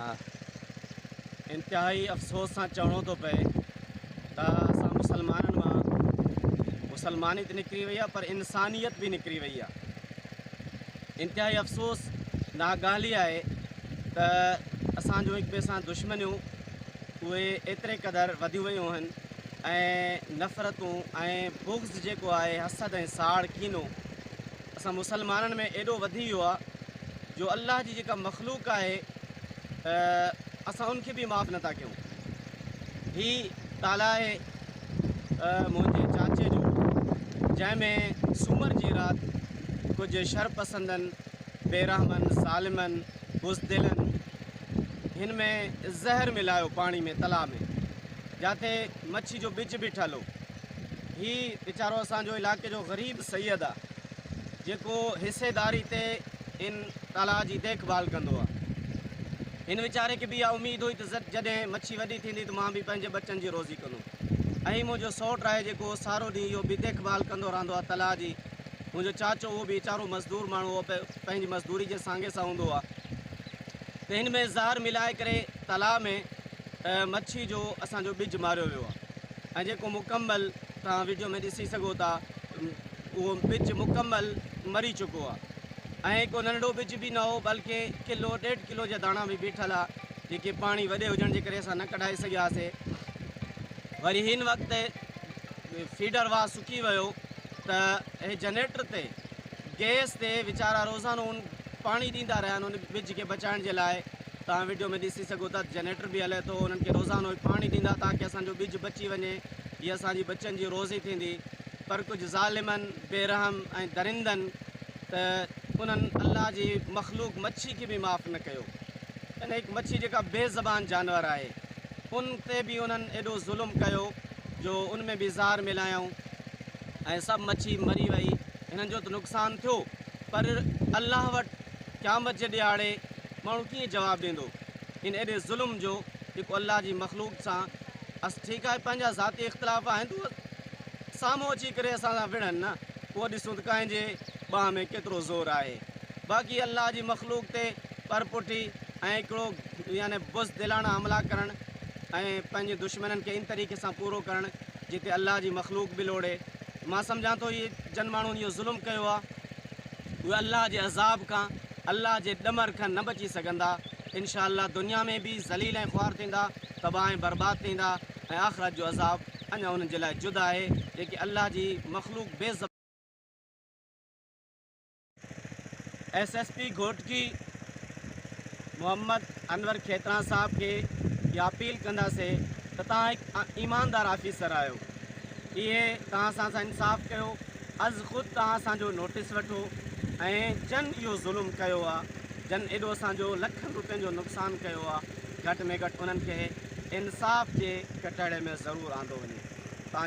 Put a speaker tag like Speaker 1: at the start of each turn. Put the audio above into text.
Speaker 1: ها انتهائي افسوس سان چوڻو ٿو پئي ته اسان مسلمانن مان مسلماني ته نڪري وئي آهي پر انسانيت به نڪري وئي آهي انتهائي افسوس نا ڳالهي آهي ته اسان جو هڪ ٻئي سان دشمنيون اهي ايتري قدر وڌيون ويون آهن ۽ نفرتون ۽ بغض جيڪو آهي حسد ۽ ساڙ ڪينو اسان مسلمانن ۾ ايڏو وڌي ويو آ جو الله جي جيڪا مخلوق آهي اسان ان کي به معاف نٿا ڪيون هي تالا آهي منهنجي چاچي جو جنهن ۾ سومر جي رات ڪجهه شر پسندن بيرحمن ظالمن بزدلن هن ۾ زهر ملايو پاڻي ۾ تلا ۾ جاتي مڇي جو ٻج به ٺلو هي ويچارو اسان جو علائقي جو غريب سيد آ جيڪو حصيداري تي ان تلاء جي ديک ڀال ڪندو آ. هن ويچاري کي به اها اميد هئي ته جڏهن مڇي وڏي ٿيندي ته مان به پنهنجي ٻچن جي روزي ڪندم ۽ منهنجو سئوٽ آهي جيڪو سارو ڏينهن اهو به ديک ڀال ڪندو رهندو آ تلاء جي منهنجو چاچو اهو به ويچارو مزدور ماڻهو هو پنهنجي مزدوري جي سانگي سان هوندو آ ته هن ۾ زهر ملائي ڪري تلاء ۾ مڇي جو اسان جو ٻج ماريو ويو آ. ۽ جيڪو مڪمل توهان وڊيو ۾ ڏسي سگهو ٿا اهو ٻج مڪمل مري چڪو آ ۽ ڪو ننڍڙو ٻج به نه هو بلڪه ڪلو ڏيڍ ڪلو جا داڻا به بيٺل آ جيڪي پاڻي وڏي هجڻ جي ڪري اسان نه ڪڍائي سگهياسي وري هن وقت فيڊر واهه سڪي ويو ته هي جنريٽر تي گيس تي ويچارا روزانو ان پاڻي ڏيندا رهيا آهن ان ٻج کي بچائڻ جي لاء توهان وڊيو ۾ ڏسي سگهو ٿا ته جنريٽر به هلي ٿو انهن کي روزانو هي پاڻي ڏيندا تاڪه اسان جو ٻج بچي وڃي هي اسان جي ٻچن جي روزي ٿيندي پر ڪجهه ظالمن بي رحم ۽ درندن ته انهن الله جي مخلوق مڇي کي به معاف نه ڪيو ان هڪ مڇي جيڪا بي زبان جانور آهي ان تي به انهن ايڏو ظلم ڪيو جو ان ۾ به زهر ملايائون ۽ سڀ مڇي مري وئي هنن جو ته نقصان ٿيو پر الله وٽ قيامت جي ڏهاڙي ماڻهو ڪيئن جواب ڏيندو ان ايڏي ظلم جو جيڪو الله جي مخلوق سان اس ٺيڪ آهي پنهنجا ذاتي اختلاف آهن ته اهي سامهون اچي ڪري اسان سان وڙهن نه پوء ڏسون ته ڪنهن جي ٻانهن ۾ ڪيترو زور آهي باقي الله جي مخلوق تي پرپٺي ۽ هڪڙو يعني بزدلاڻا حملا ڪرڻ ۽ پنهنجي دشمنن کي ان طريقي سان پورو ڪرڻ جتي الله جي مخلوق به لوڙي مان سمجهان ٿو اهي جن ماڻهن اهو ظلم ڪيو آهي اهي الله جي عذاب کان الله جي ڏمر کان نه بچي سگهندا انشاء الله دنيا ۾ به ذليل ۽ خوار ٿيندا تباهه ۽ برباد ٿيندا ۽ آخرت جو عذاب اڃا انهن جي لاء جدا آهي جيڪي الله جي مخلوق بي S S P Ghotki Muhammad Anwar Khetran sahib کي اها اپيل ڪنداسي ته توهان هڪ ايماندار آفيسر آهيو اهي توهان سان سان انصاف ڪيو از خود توهان اسان جو نوٽيس وٺو ۽ جن اهو ظلم ڪيو آ جن ايڏو اسان جو لکن روپين جو نقصان ڪيو آ گهٽ ۾ گهٽ انهن کي انصاف جي ڪٽهڙي ۾ ضرور آندو وڃي تان